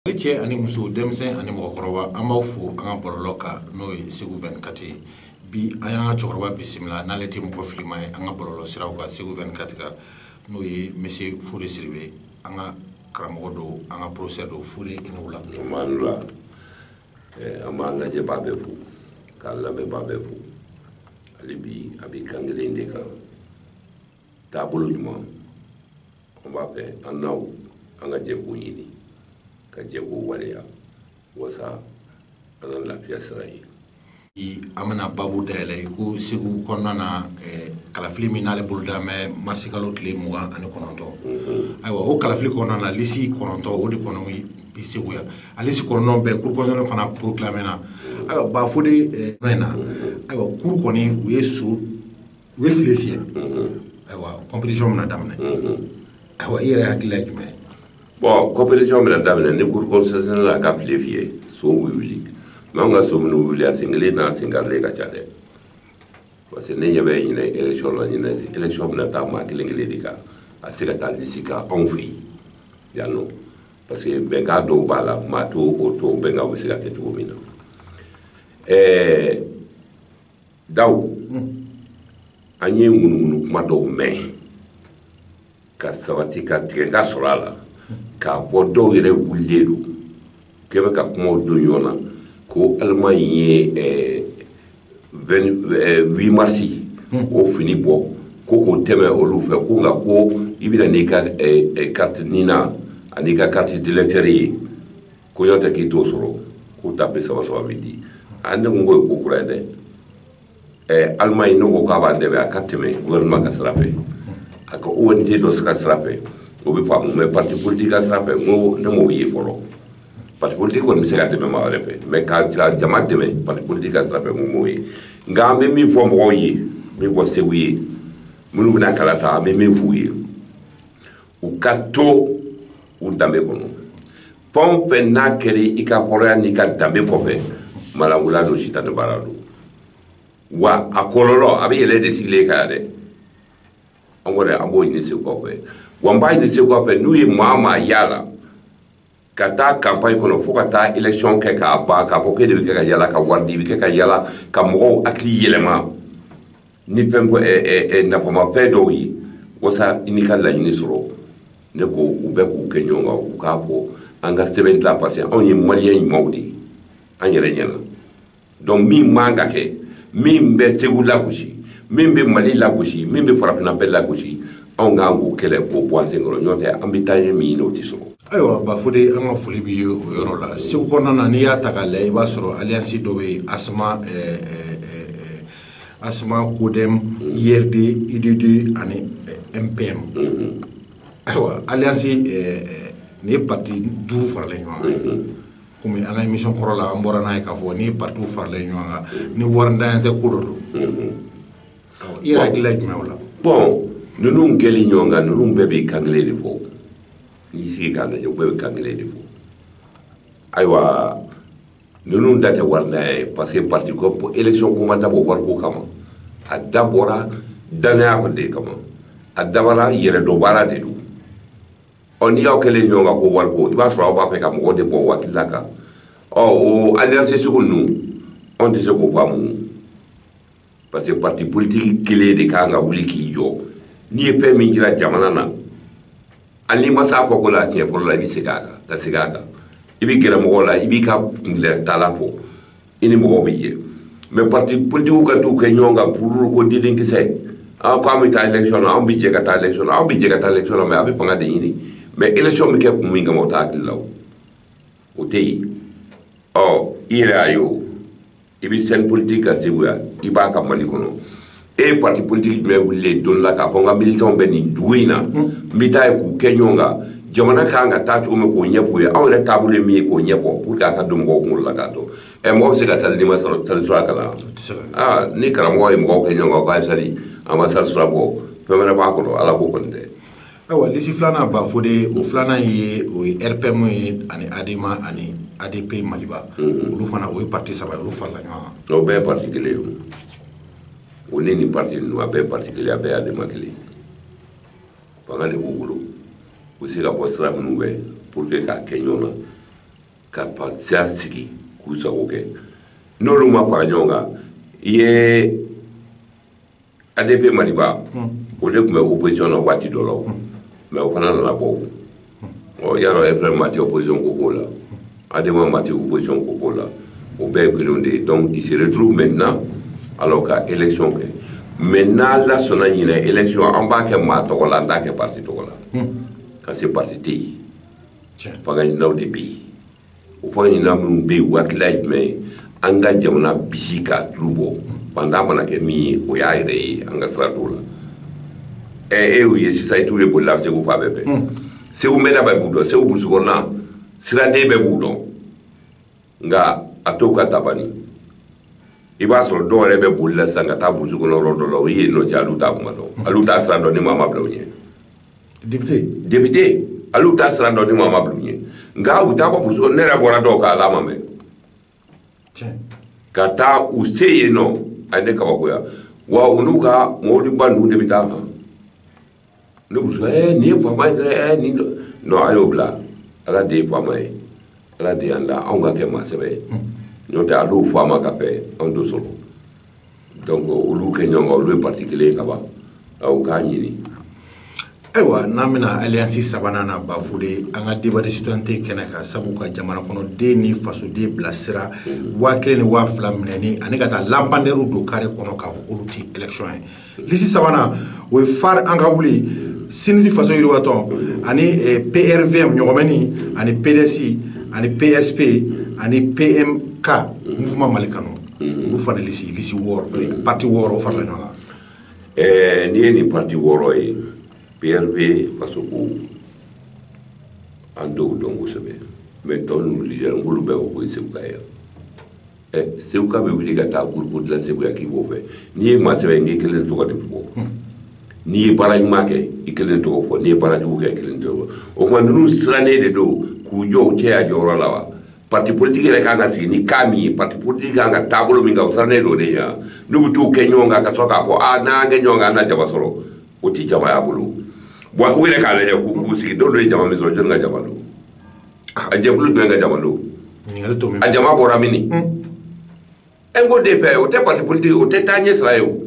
Ne cɛ ani muso denmisɛn ani mɔgɔkɔrɔba an b'aw fo an ka bɔlɔlɔ kan n'o ye segu vingt-quatre bi an y'an ka cɛkɔrɔba bisimila n'ale tɛ mɔgɔ filima ye an ka bɔlɔlɔ siraw kan segu vingt-quatre kan n'o ye monsieur Fode Sidibe an ka karamɔgɔ don an ka professeur don Fode i ni wula an b'an lajɛbaa bɛɛ fo k'an lamɛnbaa bɛɛ fo hali bi a bɛ kan kelen de kan taabolo ɲuman an b'a fɛ an n'aw an ka jɛ k'o ɲini ka jɛ k'o waleya wasa an ka lafiya sira ye an bɛna babu dayɛlɛ i ko segu kɔnɔna na eh, kalafili min n'ale bolo da mɛ marisikalo tile mugan ani kɔnɔntɔn mhm. ayiwa o kalafili kɔnɔna na lisi kɔnɔntɔn o de kɔnɔ bi segu yan a lisi kɔnɔntɔn bɛɛ cour constitutionnelle fana proclamé na mhm. ayiwa ba Fode eh, in na mhm. ayiwa cour kɔni u ye so u ye file fiyɛ ayiwa compétition bɛna daminɛ ayiwa i yɛrɛ hakilila ye jumɛn ye bon compétition bɛna daminɛ ni cour constitutionnelle la ka file fiyɛ sow bɛ wuli mais anw ka so minnu wuli a sen kelen n'a sen karilen ka ca dɛ parce que ne ɲɛ bɛ ɲinɛ élection la ɲinɛ élection bɛna taa maa kelen kelen de kan a se ka taa lisi kan anw fɛ yen yan nɔ parce que bɛnkan dɔw b'a la maa to o to bɛnkan bɛ se ka kɛ cogo min na ɛɛ Dawu an ye ŋunuŋunu kuma dɔw mɛn ka sabati ka tigɛ ka sɔrɔ a la k'a bɔ dɔw yɛrɛ wulilen don k'e bɛ ka kumaw don ɲɔgɔn na ko Allemagne ye huit mars o fini bɔ ko k'o tɛmɛ olu fɛ ko nka ko i bɛna n'i ka carte NINA ani i ka carte d'électeur ye ko ni o tɛ k'i t'o sɔrɔ ko taafe saba saba bɛ di a ne ko k'o ye ko kura ye dɛ ɛɛ Allemagne n'o ko k'a b'a dɛmɛ a ka tɛmɛ gouvernement ka sira fɛ a ka ONG dɔ ka sira fɛ o bɛ faamu mais parti politique ka sira fɛ n ko ne m'o ye fɔlɔ parti politique kɔni bɛ se ka dɛmɛ maa wɛrɛ fɛ mais ka jama dɛmɛ parti politique ka sira fɛ n ko m'o ye nka an bɛ min fɔ mɔgɔw ye min fɔ segu ye minnu bɛna kala ta an bɛ min f'u ye u ka to u danbe kɔnɔ fɛn o fɛn n'a kɛra i ka hɔrɔnya n'i ka danbe kɔfɛ malangula don sitanɛ baara don wa a kɔlɔlɔ a bɛ yɛlɛ de sigilen kan dɛ an kɔni an b'o ɲini segukaw fɛ wa n b'a ɲini segukaw fɛ n'u ye maa o maa y'a la ka taa campagne kɔnɔ fo ka taa élection kɛ k'a ban k'a fɔ k'e de bɛ kɛ ka yala ka wari di i bɛ kɛ ka yala ka mɔgɔw hakili yɛlɛma ni fɛn nafamafɛn dɔw ye wasa i n'i ka laɲini sɔrɔ ne ko u bɛɛ k'u kɛ ɲɔgɔn kan u k'a fɔ an ka sɛbɛn dilan parce que anw ye maliyɛn ɲumanw de ye an yɛrɛ ɲɛna donc min man ka kɛ min bɛ segu lagosi min bɛ mali lagosi min bɛ farafinna bɛɛ lagosi anw k'an k'o kɛlɛ k'o bɔ an senkɔrɔ ɲɔgɔn tɛ an bɛ taaɲɛ min ɲini o tɛ sɔrɔ ayiwa bafode an ka foli b'i ye o yɔrɔ la segu kɔnɔna na n'i y'a ta k'a lajɛ i b'a sɔrɔ alliance dɔ bɛ yen asma ɛɛ eh, ɛɛ eh, eh, asma codem urd udd ani mpm mm-hmm. ayiwa alliance ɛɛ nin ye parti duuru faralen ɲɔgɔn kan mm-hmm. komi an ka émission kɔrɔ la an bɔra n'a ye k'a fɔ ni parti farala ɲɔgɔn kan ni waridanya tɛ ko dɔ don i yɛrɛ hakilila ye jumɛn o la bon ninnu kɛlen ɲɔgɔn kan ninnu bɛɛ bɛ kan kelen de fɔ n'i sigi k'a lajɛ u bɛɛ bɛ kan kelen de fɔ ayiwa ninnu da tɛ waridanya ye parce que parti ko élection ko ma dabɔ wariko kama a dabɔra dannaya de kama a dabɔra yɛrɛdɔnbaara de don ɔ n'i y'aw kɛlen ɲɔgɔn kan ko wariko i b'a sɔrɔ aw b'a fɛ ka mɔgɔ de bɔ o hakilila kan ɔ o alliance sugu ninnu anw tɛ se k'o faamu parce que parti politique kelen de kan ka wuli k'i jɔ n'i ye fɛn min jira jamana na hali n'i ma se a kɔko la a siɲɛ fɔlɔ la i bɛ segin a kan ka segin a kan i bɛ gɛrɛ mɔgɔw la i b'i ka kuntilenna fɔ i ni mɔgɔw bɛ jɛ mais parti politigiw ka t'u kɛ ɲɔgɔn kan pururu ko diden kisɛ aw ko an bɛ taa élection na anw bɛ jɛ ka taa élection na aw bɛ jɛ ka taa élection na mais aw bɛ fanga de ɲini mais élection bɛ kɛ kun min kama o t'a hakili la o o tɛ yen ɔ i yɛrɛ y'a ye o i bɛ scène politique kan segu yan i b'a kan mali kɔnɔ e ye parti politique jumɛn wulilen don la k'a fɔ n ka militants bɛ nin dugu in na n bɛ taa yen k'u kɛ ɲɔgɔn kan jamana ka kan ka taa cogo min k'o ɲɛf'u ye anw yɛrɛ taabolo ye min ye k'o ɲɛfɔ pour que a ka don mɔgɔw kunkolo la k'a dɔn ɛ mɔgɔ bɛ se ka sali n'i ma sɔrɔ salisura kalan aa ni karamɔgɔ ye mɔgɔw kɛ ɲɔgɔn kan k'a ye sali a ma salisura bɔ fɛn wɛrɛ b'a kɔnɔ ala ko kɔni tɛ ayiwa lisi filanan bafode o filanan ye o ye rpm ye ani adema ani adp maliba olu fana o ye parti saba ye olu farala ɲɔgɔn kan o bɛɛ ye parti kelen ye o ne ni parti ninnu a bɛɛ parti kelen a bɛɛ ye adema kelen fanga de b'u bolo u bɛ se ka bɔ sira minnu bɛ pour que k'a kɛ ɲɔgɔn na ka fasiya sigi k'u sago kɛ n'olu ma fara ɲɔgɔn kan i ye adp maliba o de tun bɛ opposition na waati dɔ la o mais o fana nana bɔ o ɔ yɔrɔ rpm mati opposition ko k'o la adema mati opposition ko k'o la o bɛɛ ye kelenw de ye donc ils se retrouvent maintenant alors ka élection kɛ mais n'ala sɔnna ɲinɛ élection an b'a kɛ maa tɔgɔ la an t'a kɛ parti tɔgɔ la parce que parti tɛ yen fanga ɲininaw de bɛ yen o fanga ɲinina minnu bɛ yen u hakilila ye jumɛn ye an ka jamana bisi k'a tulu bɔ faantan mana kɛ min ye o y'a yɛrɛ ye an ka sira t'o la ɛ e ye sisan i t'u ye bolila segu fan bɛɛ fɛ hmm. segu mɛnna bɛɛ b'u dɔn segu burusi kɔnɔna siraden bɛɛ b'u dɔn nka a to ka tabani i b'a sɔrɔ dɔw yɛrɛ bɛ bolila sisan ka taa burusi kɔnɔ yɔrɔ dɔ la o ye nɔ cɛ olu t'a kuma dɔn olu t'a sira dɔn ni maa ma bila u ɲɛ député olu t'a sira dɔn ni maa ma bila u ɲɛ nka u taa bɔ burusi ne yɛrɛ bɔra dɔw kan a ma mɛn ka taa u se yen nɔ a ne kabakoya wa u n'u ka mɔbiliba ninnu de bɛ taa kan ne burusi ɛɛ nin ye faama ye dɛ ɛɛ nin nɔ a y'o bila ala de ye faama ye ala de y'an da anw ka kɛ maa sɛbɛ ye n'o tɛ a dɔw faama ka bɛn anw t'o sɔrɔ donc olu kɛ ɲɔgɔn kan olu ye parti kelen ye ka ban u k'a ɲini ayiwa n'an bɛna alliance sabanan na bafode an ka débat de citoyenneté kɛnɛ kan sabu ka jamana kɔnɔden ni fasoden bilasira waa kelen ni waa fila minɛni ani ka taa lampandɛriw don kare kɔnɔ k'a fɔ k'olu tɛ élection ye lisi sabanan o ye fare an ka wuli cnid faso yiriwatɔn ani eh, prvm ɲɔgɔmɛni ani pds ani psp ani pmk mouvement mali kanu mm-hmm. olu fana lisi lisi wɔɔrɔ eh, parti wɔɔrɔ o farala ɲɔgɔn kan eh, n'i ye nin parti wɔɔrɔ ye prv fasoko an dɔw dɔn kosɛbɛ mais tɔ ninnu lidɛri n k'olu bɛɛ ko ko ye seguka ye seguka bɛ wuli ka taa gurupu dilan seguya k'i b'o fɛ n'i ye maa sɛbɛ n'i kelen tɔgɔ de fɔ hmm. n'i ye baara ɲuman kɛ i kelen tɔgɔ fɔ n'i ye baara jugu kɛ i kelen tɔgɔ fɔ o tuma ninnu sirannen de don k'u jɔ u cɛya jɔyɔrɔ la wa parti politique yɛrɛ kan ka sigi ni cas min ye parti politique kan ka taabolo min kan o sirannen don de ye n'u bɛ t'u kɛ ɲɔgɔn kan ka sɔrɔ k'a fɔ a n'an kɛ ɲɔgɔn kan an na jama sɔrɔ o tɛ jama y'a bolo wa u yɛrɛ k'a lajɛ k'u sigi dɔw de ye jama min sɔrɔ jɔni ka jama don a jɛkulu jumɛn ka jama don a jama bɔra mini n ko de fɛ o tɛ pati politiki o tɛ taa ɲɛ sira ye o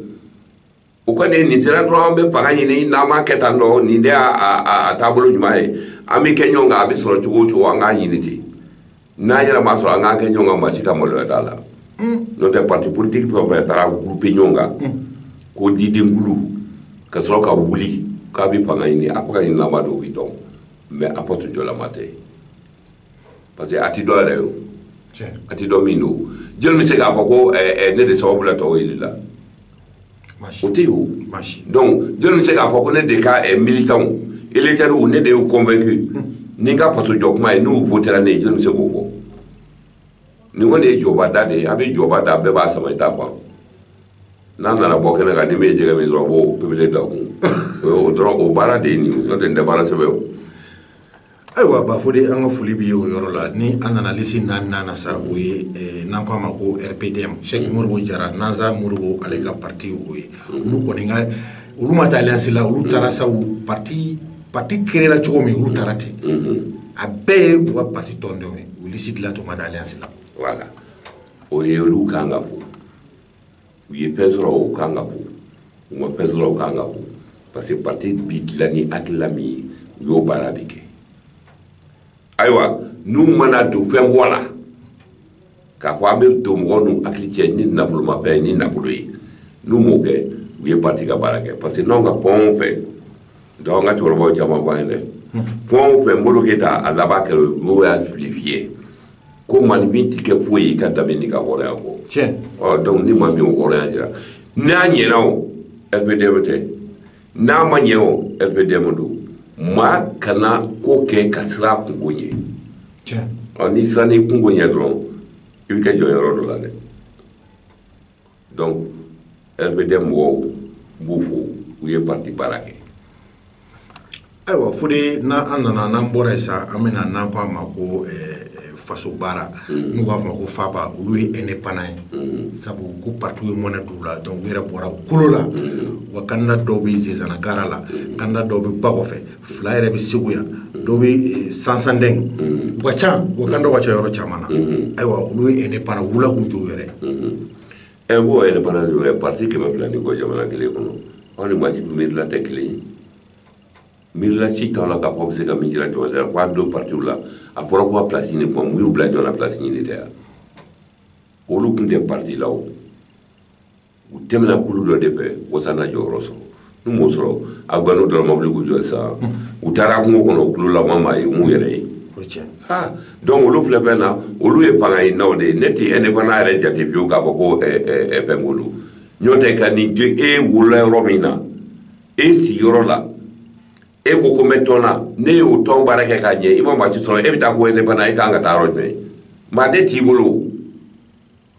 o kɔni nin sira dɔrɔn an bɛ fanga ɲini n'an m'a kɛ tan dɔrɔn nin de y'a taabolo ɲuman ye an bɛ kɛ ɲɔgɔn kan a bɛ sɔrɔ cogo o cogo an k'a ɲini ten n'an yɛrɛ ma sɔrɔ an k'an kɛ ɲɔgɔn kan maa si ka maloya t'a la n'o tɛ pati politiki fɛn o fɛn taara gurupe ɲɔgɔn kan ko didenkulu ka sɔrɔ ka wuli k'a bɛ fanga ɲini a fanga ɲinilama don o bɛ dɔn mais a faso jɔlama tɛ parce que a ti dɔn yɛrɛ yo a ti dɔn min don jɔni bɛ se k'a fɔ ko eh, eh, ne de sababu la tɔw yɛlɛla o tɛ yo donc jɔni bɛ se k'a fɔ ko ne de ka eh, militants électeurs ne de y'u convaincu hmm. ni n ka faso jɔ kuma ye n'u votera ne ye jɔni bɛ se k'o fɔ nin kɔni ye jɔba da de ye a bɛ jɔba da bɛɛ b'a sama i ta ban n'a nana bɔ kɛnɛ kan ni min ye jɛgɛ min sɔrɔ a b'o pepele da kun o dɔrɔn o baara de ye nin n'o tɛ nin tɛ baara sɛbɛ o ayiwa bafode an ka foli b'i ye o yɔrɔ la ni an nana lisi naaninan na sa o ye eh, n'an ko a ma ko rpdm sɛki modibo jara nasa modibo ale ka parti o ye olu kɔni ka olu ma taa alliance la olu taara sabu parti pati créé la cogo min olu taara ten a bɛɛ ye u ka pati tɔndenw ye u lisi dilan tun ma taa alliance la o ye olu kan ka fo u ye fɛn sɔrɔ o kan ka fo u ma fɛn sɔrɔ o kan ka fo parce que pati bi dilan ni hakilila min ye u y'o baara de kɛ ayiwa n'u mana don fɛn bɔ la k'a fɔ an bɛ don mɔgɔw n'u hakili cɛ ni nafolomafɛn ye ni nafolo ye n'u m'o kɛ u ye parti ka baara kɛ parce que n'anw ka fɛn o fɛn donc an ka cɛkɔrɔbaw caman fɔ an ye dɛ fɛn o fɛn Modibo Keyita a laban kɛra o mɔgɔw y'a justifier ko maaninfin tɛ kɛ foyi ye i ka danbe n'i ka hɔrɔnya kɔ tiɲɛ ɔ donc ni maa min y'o hɔrɔnya jira n'a ɲɛna o RPDM tɛ n'a ma ɲɛ o rpdm don maa kana ko kɛ ka siran a kunko ɲɛ ɔ n'i siranna i kunko ɲɛ dɔrɔn i bɛ kɛ jɔnyɔrɔ dɔ la dɛ donc rpdm mɔgɔw n b'u fo u ye parti baara kɛ Ayiwa fode n'an nana n'an bɔra yen sa an bɛna n'an ko a ma ko faso baara n'u b'a fɔ a ma ko faba olu ye indépendant ye sabu ko parti ye mɔnɛ don u la donc u yɛrɛ bɔra kolo la wa candidat dɔw bɛ sinzana gare la candidat dɔw bɛ ba kɔfɛ fila yɛrɛ bɛ segu yan dɔw bɛ sansandin u ka ca u ka candidat ka ca yɔrɔ caman na ayiwa olu ye indépendant u wulila k'u jɔ u yɛrɛ ye indépendant pati kɛmɛ fila ni kɔ jamana kelen kɔnɔ aw ni maa si miirila tɛ kelen ye miirila si t'a la k'a fɔ bɛ se ka min jira jɔn la k'a don partiw la a fɔra ko ka place ɲini kuma mun y'u bila jɔn na place ɲini tɛ yan olu tun tɛ parti la o u tɛmɛna kulu dɔ de fɛ wasa na jɔyɔrɔ sɔrɔ n'u m'o sɔrɔ a gano dɔrɔn u bi wuli k'u jɔ sisan u taara kungo kɔnɔ u tulo laban ma ye mun yɛrɛ ye ha donc olu filɛ fɛn na olu ye fanga ɲininaw de ye ne tɛ indépendant yɛrɛ jate fiyewu k'a fɔ ko fɛn k'olu n'o tɛ ka nin je e wolola yɔrɔ min na e sigiyɔrɔ la e ko ko n bɛ tɔn na ne y'o tɔn baara kɛ k'a ɲɛ i ma maa si sɔrɔ e bɛ taa ko indépendant e kan ka taa yɔrɔ jumɛn maa de t'i bolo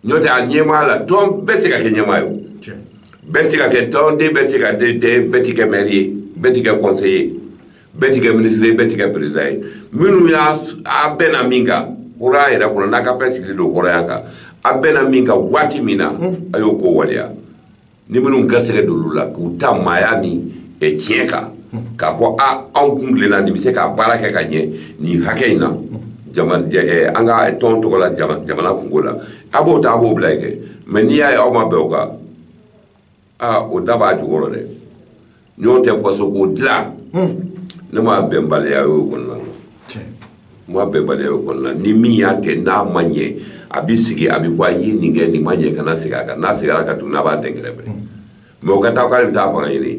n'o tɛ a ɲɛmaa la tɔn bɛɛ se ka kɛ ɲɛmaa ye bɛɛ se ka kɛ tɔnden bɛɛ se ka den den bɛɛ ti kɛ mɛri ye bɛɛ ti kɛ kɔnseye ye bɛɛ ti kɛ minisiri ye bɛɛ ti kɛ perezida ye minnu y'a a bɛnna min kan hɔrɔnya yɛrɛ kɔnɔ n'a ka fɛn sigilen don hɔrɔnya kan a bɛnna min kan waati min na a y'o ko waleya ni minnu garisɛgɛ d'olu la k'u ta maaya ni eh, tiɲɛ kan k'a fɔ a anw kun tilenna nin bɛ se ka baara kɛ ka ɲɛ nin hakɛ in na eh, an ka tɔn tɔgɔ la jamana kunko la a b'o ta a b'o bila yen kɛ mɛ n'i y'a ye aw ma bɛn o kan aa o da b'a jukɔrɔ dɛ N'o tɛ faso ko dila ne ma bɛnbaliya y'o kɔnɔna na n ma bɛnbaliya y'o kɔnɔna ni min y'a kɛ n'a ma ɲɛ a bɛ sigi a bɛ fɔ a ye nin kɛ nin ma ɲɛ kana segin a kan n'a seginna a kan tuguni a b'a dɛn kɛrɛfɛ mɛ o ka taa k'ale bɛ taa fanga ɲini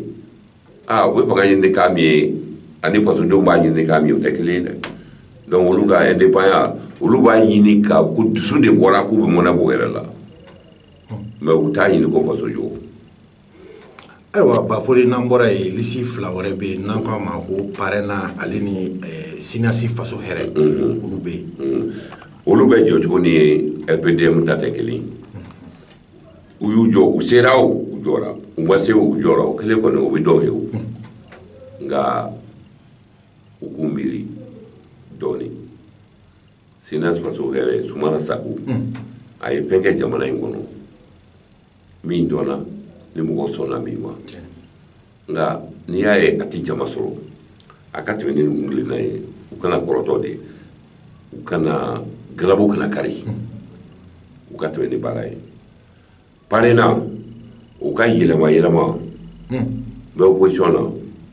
aa o bɛ fanga ɲini k'a min ye ani fasodenw b'a ɲini k'a min o tɛ kelen ye dɛ donc olu ka indépendant olu b'a ɲini ka ko dusu de bɔra k'u bɛ mɔnɛ b'u yɛrɛ la mɛ u t'a ɲini ko faso jɔ ayiwa bafode n'an bɔra yen lisi fila wɛrɛ bɛ yen n'an k'a ma ko parɛna ale ni eh, sinasi faso hɛrɛ mm-hmm. olu bɛ yen mm-hmm. olu bɛ jɔ cogo ni rpdm ta tɛ kelen u y'u jɔ u sera o u jɔra u ma se u jɔra o kelen kɔni o bɛ dɔw ye o mm-hmm. nka u k'u miiri dɔɔnin sinasi faso hɛrɛ sumana sako a ye fɛn kɛ jamana in kɔnɔ min dɔnna ni mɔgɔ sɔnna min ma nka n'i y'a ye a tɛ jama sɔrɔ a ka tɛmɛ ni hakilina ye u kana kɔrɔtɔ dɛ u kana galabu kana kari u ka tɛmɛ ni baara ye parena u ka yɛlɛma yɛlɛma bɛ opposition na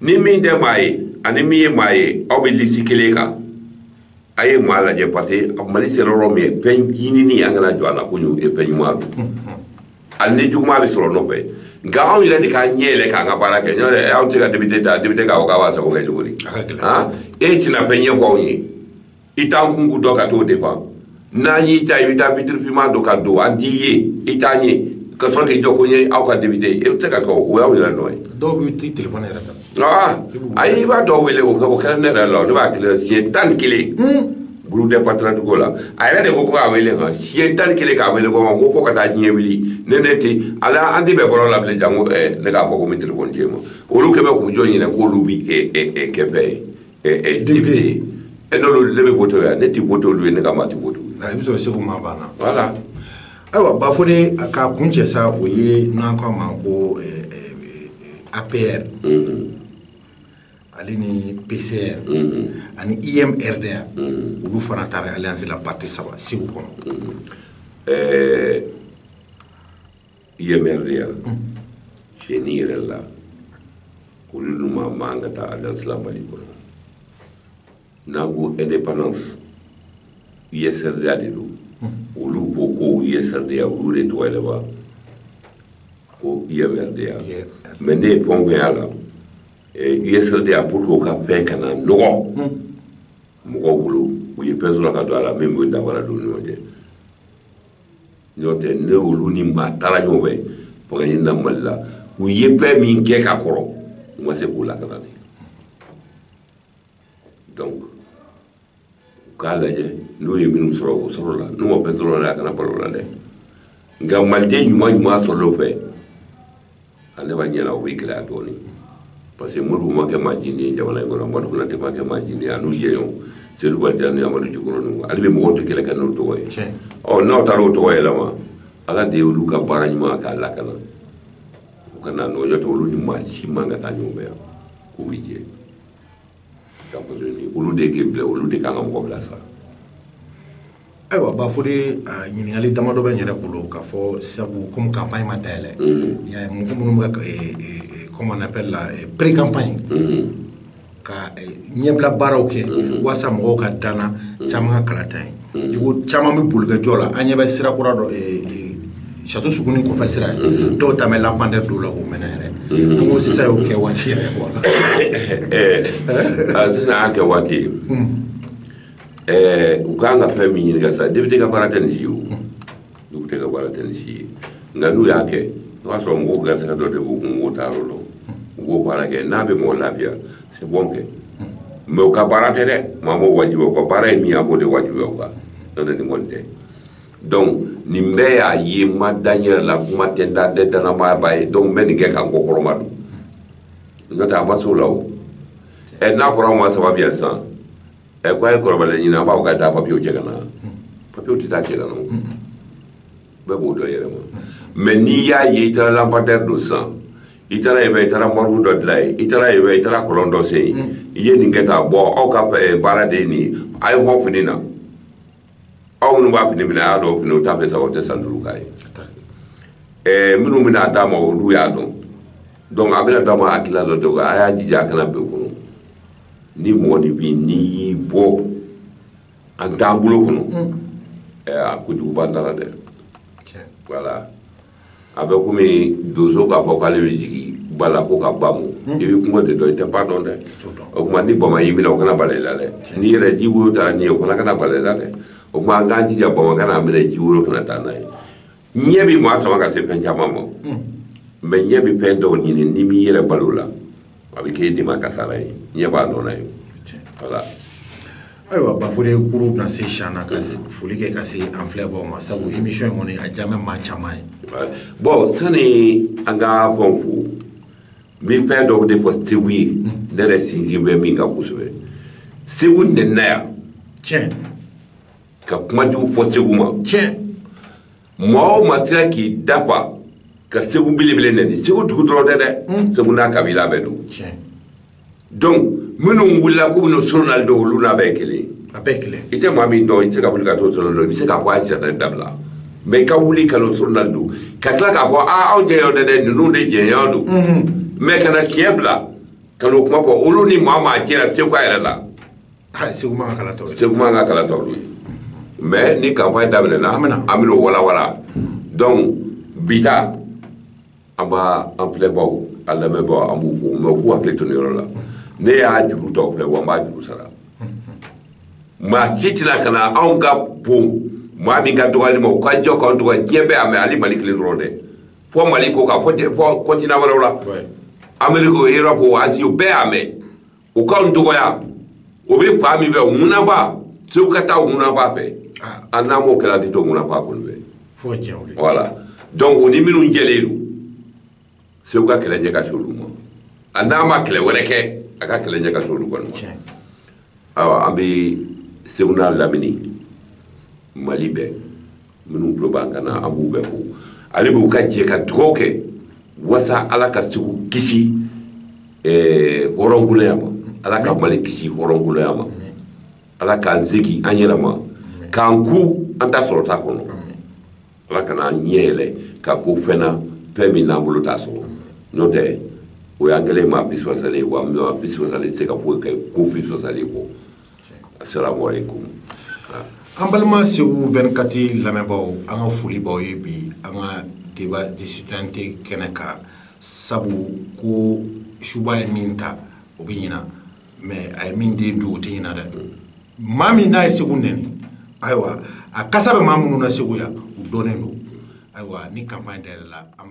ni min tɛ maa ye ani min ye maa ye aw bɛ lisi kelen kan a ye maa lajɛ parce que mali sera yɔrɔ min ye fɛn ɲinini an kana jɔ a la ko ye fɛn ɲuman don hali ni juguman bɛ sɔrɔ nɔfɛ nka anw yɛrɛ de ka ɲɛ yɛlɛ k'an ka baara kɛ n'o tɛ anw tɛ ka député ta député k'a fɔ k'a b'a sago kɛ cogo di e tɛna fɛn ɲɛfɔ anw ye i t'an kunko dɔn ka t'o défendre n'an y'i ta i bɛ taa vitre finman dɔ ka don an t'i ye i t'an ye ka sɔrɔ k'i jɔ ko n ye aw ka député ye e bɛ se ka kɛ o y'aw yɛrɛ nɔ ye dɔw bɛ t'i telefɔni yɛrɛ ta aa ayi i b'a dɔw wele o kɛra ne yɛrɛ la ne b'a wele siɲɛ tan ni kelen groupe des patriotes ko la a yɛrɛ de ko ko k'a wele kan siɲɛ tan ni kelen k'a wele ko ma ko fo ka taa diɲɛ wuli ne ne tɛ ala an tɛ bɛn bɔlɔn la bilen janko ne k'a fɔ ko n bɛ telefɔni di e ma olu quand même k'u jɔ ɲinɛ k'olu bɛ kɛ fɛn ye député ye n'olu ne bɛ wote yan ne tɛ wote olu ye ne ka maa tɛ wote i bɛ sɔrɔ segu maa banna voilà ayiwa bafode an k'a kuncɛ sa o ye n'an k'a ma ko apr ale ni pcr ani umrda olu fana taara alliance la parti saba segu kɔnɔ UM-RDA cɛn yɛrɛ la olu ni maa man ka taa alliance la mali kɔnɔ n'an ko indépendance US-RDA de don olu ko ko US-RDA olu de tɔgɔ yɛlɛma ko UM-RDA mais ne ye pɔnkɔya la US-RDA pour que o ka fɛn kana nɔgɔ mɔgɔw bolo u ye fɛn sɔrɔ ka don a la min bɛ danfara don ni ɲɔgɔn cɛ n'o tɛ ne olu ni maa taara ɲɔgɔn fɛ fanga ɲini na mali la u ye fɛn min kɛ ka kɔrɔ u ma se k'u lakana de donc u k'a lajɛ n'u ye minnu sɔrɔ o sɔrɔla n'u ma fɛn sɔrɔ a la a kana bal'u la dɛ nka maliden ɲuman ɲuman sɔrɔ o fɛ ale b'a ɲɛna o bɛ gɛlɛya dɔɔnin parce que modibo ma kɛ maa jindi ye jamana in kɔnɔ madu konate ma kɛ maa jindi ye a n'u jɛɲɔgɔn seyidu bajan ni amadu jikɔrɔninw hali bi mɔgɔw tɛ kɛlɛ kɛ n'o tɔgɔ ye ɔ n'aw taara o tɔgɔ yɛlɛma ala de ye olu ka baara ɲuman k'a lakana u kana nɔgɔ n'o tɛ olu ni maa si man ka taa ɲɔgɔn fɛ yan k'u bɛ jɛ ka muso in di olu de k'i bila olu de kan ka mɔgɔ bilasira ayiwa bafode ɲininkali damadɔ bɛ n yɛrɛ bolo k'a fɔ sabu komi kanpaɲi ma dayɛlɛ y'a ye mɔgɔ minnu bɛ ka comment on appelle la pré campagne ka ɲɛbila baaraw kɛ waasa mɔgɔw ka danna caman ka kalata ye I ko caman bɛ boli ka jɔ la an ɲɛ bɛ sira kura dɔ château sugunin kɔfɛ sira ye dɔw ta bɛ lampadaire don na k'o mɛnɛ yɛrɛ ko sisan y'o kɛ waati yɛrɛ sisan y'a kɛ waati ye u k'an ka fɛn min ɲininka sa député ka baara tɛ nin si ye o député ka baara tɛ nin si ye nka n'u y'a kɛ o y'a sɔrɔ mɔgɔw garisɛgɛ dɔ de b'u kun mɔgɔw t'a yɔrɔ dɔn u b'o baara kɛ n'a bɛ mɔgɔ lafiya c'est bon kɛ mais u ka baara tɛ dɛ maa m'o wajibiya u ka baara ye min ye a b'o de wajibiya u kan n'o tɛ nin kɔni tɛ donc nin bɛɛ y'a ye n ma da n yɛrɛ la kuma tɛ n da n tɛ dannamaaba ye donc n bɛ nin kɛ ka n kɔkɔrɔma don n'o tɛ a ma s'o la o ɛ n'a fɔra anw ma sababu yan sisan ɛ ko a ye kɔrɔbala ɲini an b'a fɔ ka taa papiyew cɛ ka na papiyew tɛ taa cɛ ka na o bɛɛ b'o dɔn yɛrɛ ma mais n'i y'a ye i taara lampadaire don sisan i taara yen fɛ i taara morgue dɔ dilan yen i taara yen fɛ i taara kɔlɔn dɔ sen yen i ye nin kɛ tan bon aw ka baara de ye nin ye a ye hɔn fini na aw minnu b'a fini minɛ a y'a dɔn fini o t'a fɛ sa o tɛ san duuru k'a ye ɛɛ minnu bɛna d'a ma olu y'a dɔn donc a bɛna d'a ma hakilila dɔ de ko a y'a jija a kana bɛn kɔnɔ ni mɔgɔ ni bi n'i y'i bɔ an t'an bolo kɔnɔ ɛɛ a kojugu b'an ta la dɛ voilà a bɛ komi donso k'a fɔ k'ale bɛ jigin ba la ko ka ba mu hmm. i bɛ kungo de dɔn i tɛ ba dɔn dɛ o tuma ni bama y'i minɛ o kana bala i la dɛ n'i yɛrɛ ji woro taara n'i ye o fana kana bala i la dɛ o tuma an k'an jija bama kan'an minɛ ji woro kana taa n'an ye ɲɛ bɛ maa sama ka se fɛn caman ma hmm. mais ɲɛ bɛ fɛn dɔw ɲini n'i m'i yɛrɛ bal'o la a bɛ k'e de ma kasara ye ɲɛ b'a nɔ na ye voilà ayiwa bafode kuru bɛna se siyan na ka foli kɛ ka se an filɛbaaw ma sabu émission in kɔni a diya bɛ maa caman ye bon sani an ka fɛnw fo n bɛ fɛn dɔw de fɔ segu ye ne yɛrɛ sinsin bɛ min kan kosɛbɛ segu nɛnina yan tiɲɛ ka kuma jugu fɔ segu ma tiɲɛ maa o maa sera k'i da fa ka segu belebele nɛni segu dugu dɔrɔn tɛ dɛ hmm. segu n'a kabila bɛɛ don donc minnu wulila k'u bɛna soronali don olu n'a bɛɛ kelen a bɛɛ kelen i tɛ maa min dɔn i tɛ se ka wuli ka t'o soronali don i bɛ se k'a fɔ a sɛnɛ dabila mais i ka wuli ka n'o soronali don ka tila k'a fɔ aa anw jɛɲɔgɔn tɛ dɛ ninnu de jɛɲɔgɔn don mais ka na siɲɛ fila ka n'o kuma fɔ olu ni maa maa jɛra segu a yɛrɛ la Ah, segu man ka kala t'u ye segu man ka kala t'olu ye mais ni campagne daminɛna an bɛn'o walawala donc bi ta an b'a an filɛbaaw an lamɛnbaaw an b'u fo mais u k'u hakili to nin yɔrɔ la ne y'a juru t'aw fɛ wa n b'a juru sara maa si tɛna ka na anw ka bon maa min ka dɔgɔyali ma o ka jɔ k'anw dɔgɔya diɲɛ bɛɛ y'a mɛn hali mali kelen dɔrɔn tɛ fɔ mali kɔkan fɔ continent wɛrɛw la ameriki o erɔpu o azi o bɛɛ y'a mɛn o k'anw dɔgɔya o bɛ fan min fɛ ŋunaba segu ka taa ŋunaba fɛ an n'an m'o kɛ an tɛ to ŋunaba kɔni fɛ voilà donc o ni minnu jɛlen don segu ka kɛlɛ ɲɛ ka se olu ma a n'a ma kɛlɛ wɛrɛ kɛ a ka kɛlɛ ɲɛ ka se olu kɔni ma awa an bɛ segu n'a lamini mali bɛɛ minnu tulo b'an kan na an b'u bɛɛ fo ale b'u ka jɛ ka dugaw kɛ wasa ala ka segu kisi eh, hɔrɔnkoloya ma ala ka mali kisi hɔrɔnkoloya ma ala k'an segi an yɛrɛ ma k'an kun an ta sɔrɔta kɔnɔ ala kana an ɲɛ yɛlɛ ka ko fɛn na fɛn min n'an bolo t'a sɔrɔ n'o tɛ o y'an kɛlen maa bisibasalen ye wa maa bisibasalen tɛ se ka foyi kɛ ko bisibasalen kɔ an balima segu vingt-quatre lamɛnbaaw an ka foli b'aw ye bi an ka débat de cité kɛnɛ kan sabu ko suba ye min ta o bɛ ɲina mais a ye min den dun o tɛ ɲina dɛ maa min n'a ye segu nɛni ayiwa a kasa bɛ maa minnu na segu yan u dɔnnen don ayiwa ni campagne dayɛlɛla an